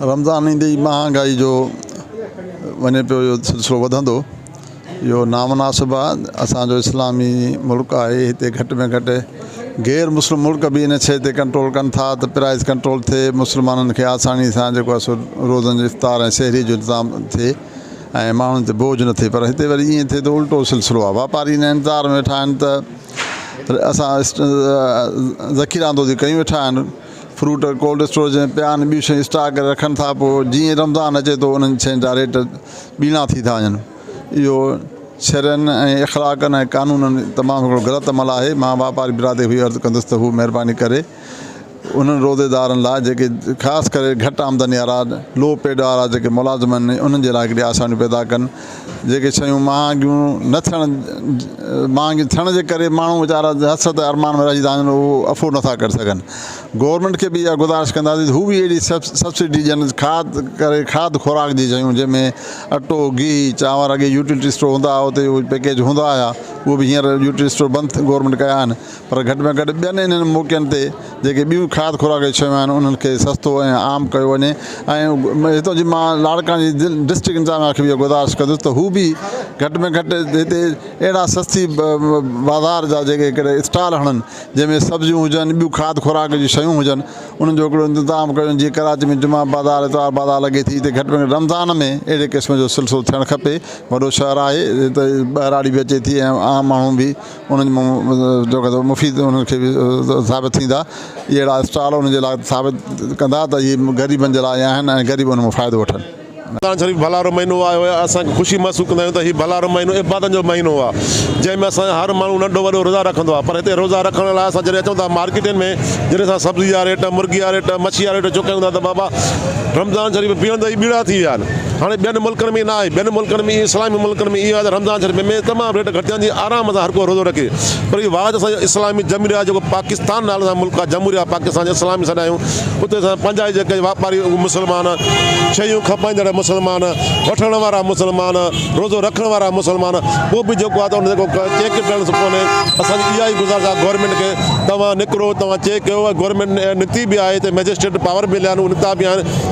رمضان ايندي ئي مهانگائي جو وڃي پيو اهو سلسلو وڌندو اهو نامناسب آهي اسان جو اسلامي ملڪ آهي هتي گهٽ ۾ گهٽ غير مسلم ملڪ به ان شئي تي ڪنٽرول ڪن ٿا ته پرائز ڪنٽرول ٿئي مسلمانن کي آساني سان جيڪو آهي سو روزن جو افطار ۽ سحري جو انتظام ٿئي ۽ ماڻهن تي بوجھ نه ٿئي پر هتي وري ائين ٿئي ٿو الٽو سلسلو آهي واپاري ان انتظار ۾ ويٺا آهن ته اسان ذخيره اندوزي ڪيون ويٺا آهن فروٽ ڪولڊ اسٽوريج ۾ پيا آهن ٻيون شيون اسٽاڪ ڪري رکن ٿا پوء جيئن رمضان اچي ٿو انهن شين جا ريٽ ٻيڻا ٿي ٿا وڃن اهو شرعن ۽ اخلاقن ۽ قانونن تمام هڪڙو غلط عمل آهي مان واپاري برادري کي عرض ڪندس ته هو مهرباني ڪري انهن روزيدارن لاء جيڪي خاص ڪري گهٽ آمدني وارا لو پيڊ وارا جيڪي ملازم آهن انهن جي لاء هڪڙي آساني پيدا ڪن جيڪي شيون مهانگيون نه ٿيڻ مهانگيون ٿيڻ جي ڪري ماڻهو ويچارا حسرت ۽ ارمان ۾ رهجي ٿا وڃن اهو افورڊ نٿا ڪري سگهن گورنمينٽ کي به اها گذارش ڪنداسين ته هو به اهڙي سبسڊي ڏين کاڌ ڪري کاڌ خوراڪ جي شيون جنهن ۾ اٽو گيهه چانور اڳي يوٽيلٽي اسٽور هوندا هئا اتي اهي پيڪيج هوندا هيا اهي به هينئر يوٽيلٽي اسٽور بند گورنمينٽ ڪيا آهن پر گهٽ ۾ گهٽ ٻين انهن موقعن تي جيڪي ٻيون کاڌ خوراڪ جون شيون آهن انهن کي سستو ۽ عام ڪيو وڃي ۽ هتان جي مان لاڙڪاڻي جي دل ڊسٽرڪٽ انتظاميا کي به اها گذارش ڪندس ته هو به گهٽ ۾ گهٽ هتي اهڙا سستي بازار جا جيڪي ڪري اسٽال هڻن جنهن ۾ سبزيون هجن ٻيون کاڌ خوراڪ جون شيون هجن انهن جو هڪڙو انتظام ڪيو جيئن ڪراچي ۾ جمعه بازار اتوار بازار لڳي ٿي هتي گهٽ ۾ گهٽ رمضان ۾ اهڙي قسم جو سلسلو ٿيڻ کپي وڏو شهر آهي هتي ٻهراڙي به اچي ٿي ۽ عام ماڻهو به انهن مان جو ڪجهه مفيد انهن کي به ثابت ٿيندا. اهڙا اسٽال انهن جي لاء ثابت ڪندا ته اهي غريبن جي لاء آيا آهن ۽ غريب ان مان فائدو وٺن. رمضان شريف ڀلارو مهينو آهي هوء اسان کي خوشي محسوس ڪندا آهيون ته هي ڀلارو مهينو عبادتن جو مهينو آهي جنهن ۾ اسان جو هر ماڻهو ننڍو وڏو روزا رکندو آهي پر هتي روزا رکڻ لاء اسان جڏهن اچون ٿا مارڪيٽن ۾ جڏهن اسان سبزي جا ريٽ مرغي جا ريٽ مڇي جا ريٽ چڪائون ٿا ته بابا رمضان شريف پيهڻ جا ئي ٻيڙا ٿي ويا آهن. هاڻي ٻين ملڪن ۾ نه آهي، ٻين ملڪن ۾ ائين اسلامي ملڪن ۾ ائين آهي ته رمضان شريف ۾ تمام ريٽ گهٽجن ٿي آرام سان هر ڪو روزو رکي پر هي واحد اسان جو اسلامي جمهوريه آهي جيڪو پاڪستان نالي سان ملڪ آهي جمهوريه پاڪستان اسلامي سڏ آهيون اتي اسان پنهنجا ئي جيڪي واپاري اهي مسلمان شيون کپائيندڙ مسلمان وٺڻ وارا مسلمان روزو رکڻ وارا مسلمان ڪو به جيڪو آهي ته ان جيڪو چيڪ ڪرڻ سکو نه اسان جي اها ئي گذارش آهي گورنمينٽ کي توهان نڪرو توهان چيڪ ڪيو گورنمينٽ نڪتي به آهي ته مئجسٽريٽ پاور به مليا آهن نڪتا به آهن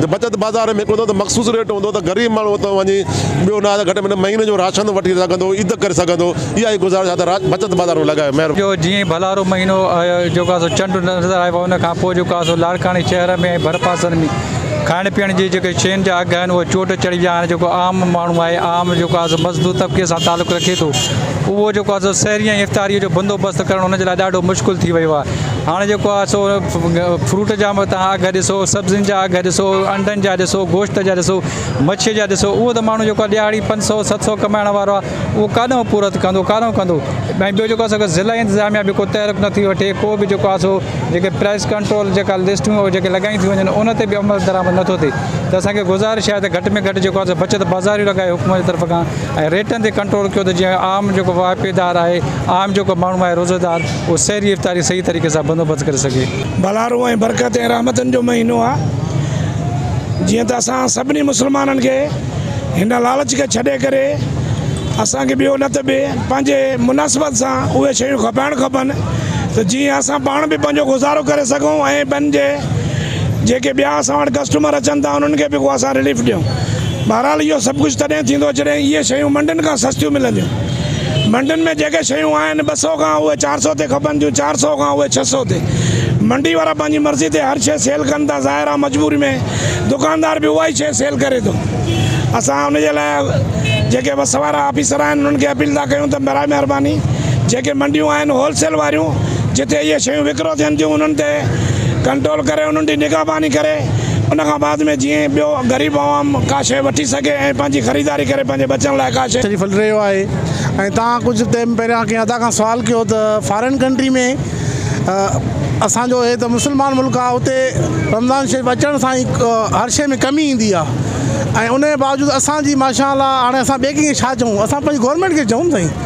جي بچت بازار ۾ هڪڙو ته مخصوص ريٽ هوندو ته غريب ماڻهو اتان وڃي ٻيو نه ته گهٽ ۾ گهٽ مهيني جو راشن وٺي سگهندو عيد ڪري سگهندو اها ئي گذارش آهي ته بچت بازار ۾ لڳايو مهرباني. جو جيئن ئي ڀلارو مهينو آيو جو ڪا سو چنڊ نظر آيو ان کان پوء جو ڪا سو لاڙڪاڻي شهر ۾ ۽ ڀرپاسن ۾ کائڻ پيئڻ جي جيڪي شين جا اگهه آهن اهي چوٽ چڙهي ويا هاڻي جيڪو عام ماڻهو آهي عام جو ڪا سو مزدور طبقي سان تعلق رکي ٿو اهو جو ڪا سو سحري ۽ افطاري جو بندوبست ڪرڻ ان جي لاء ڏاڍو مشڪل ٿي ويو آهي هاڻ جيڪو آهي سو فروٽ جا به تان اگهه ڏسو سبزين جا اگهه ڏسو انڊن جا ڏسو گوشت جا ڏسو مڇي جا ڏسو اهو ته ماڻهو جيڪو ڏهاڙي پنج سؤ ست سؤ ڪمائڻ وارو آهي اهو ڪاڏانهن پورت ڪندو ڪاڏانهن ڪندو ۽ ٻيو جيڪو آهي ضلع انتظاميا به ڪو تحرڪ نٿي وٺي ڪو به جيڪو آهي سو جيڪي پرائز ڪنٽرول جيڪا لسٽون جيڪي لڳائي ٿي وڃن ان تي به عمل درآمد نٿو ٿئي ته اسانکي گذارش آهي ته گهٽ ۾ گهٽ جيڪو آهي سو بچت بازاري لڳائي حڪومت جي طرف کان ۽ ريٽن تي ڪنٽرول ڪيو ته جيئن عام جيڪو واهپيدار آهي عام جيڪو ماڻهو آهي روزدار ڪو سحري افطاري صحيح طريقي سان بندوبست ڪري سگهي. ڀلارو ۽ برڪت ۽ رحمتن جو مهينو آ جيئن ته اسان سڀني مسلمانن کي هن لالچ کي ڇڏي ڪري اسان کي ٻيو نه ته به پنهنجي مناسبت سان اهي شيون کپائڻ کپن ته جيئن اسان پاڻ به پنهنجو گذارو ڪري سگهون ۽ ٻين جي جيڪي ٻيا اسان وٽ ڪسٽمر اچن ٿا انهن کي به ڪو اسان رليف ڏيون بهرحال اهو سڀ ڪجهه تڏهن ٿيندو جڏهن اهي شيون منڊين کان سستيون ملنديون. منڊين ۾ جيڪي شيون آهن ٻه سئو کان اهي چار سئو تي کپن ٿيون، چار سئو کان اهي ڇهه سئو تي. منڊي وارا پنهنجي مرضي تي هر شيء سيل ڪن ٿا، ظاهر آهي مجبوري ۾ دڪاندار به اها ئي شيء سيل ڪري ٿو. اسان ان جي لاء جيڪي وس وارا آفيسر آهن انهن کي اپيل ٿا ڪيون ته براء مهرباني جيڪي منڊيون آهن هول سيل واريون جتي اهي شيون وڪرو ٿين ٿيون انهن تي ڪنٽرول ڪري انهن تي نگهباني ڪري. ان کان بعد ۾ جيئن ٻيو غريب عوام ڪا شيء وٺي سگهي ۽ پنهنجي خريداري ڪري پنهنجي ٻچن لاء ڪا شيء. شريف هلي رهيو آهي ۽ توهان ڪجهه ٽيم پهريان ڪنهن ادا کان سوال ڪيو ته فارين ڪنٽري ۾ اسان جو هي ته مسلمان ملڪ آهي اتي رمضان شريف اچڻ سان ئي هر شيء ۾ ڪمي ايندي آهي ۽ ان جي باوجود اسان جي ماشاء الله هاڻي اسان ٻئي ڪنهن کي ڇا چئون اسان پنهنجي گورنمينٽ کي چئون سائين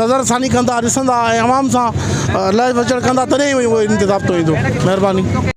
نظر ثاني ڪندا ڏسندا ۽ عوام سان لهه وچڙ ڪندا تڏهن ئي اهو انتظام ٿو ايندو مهرباني.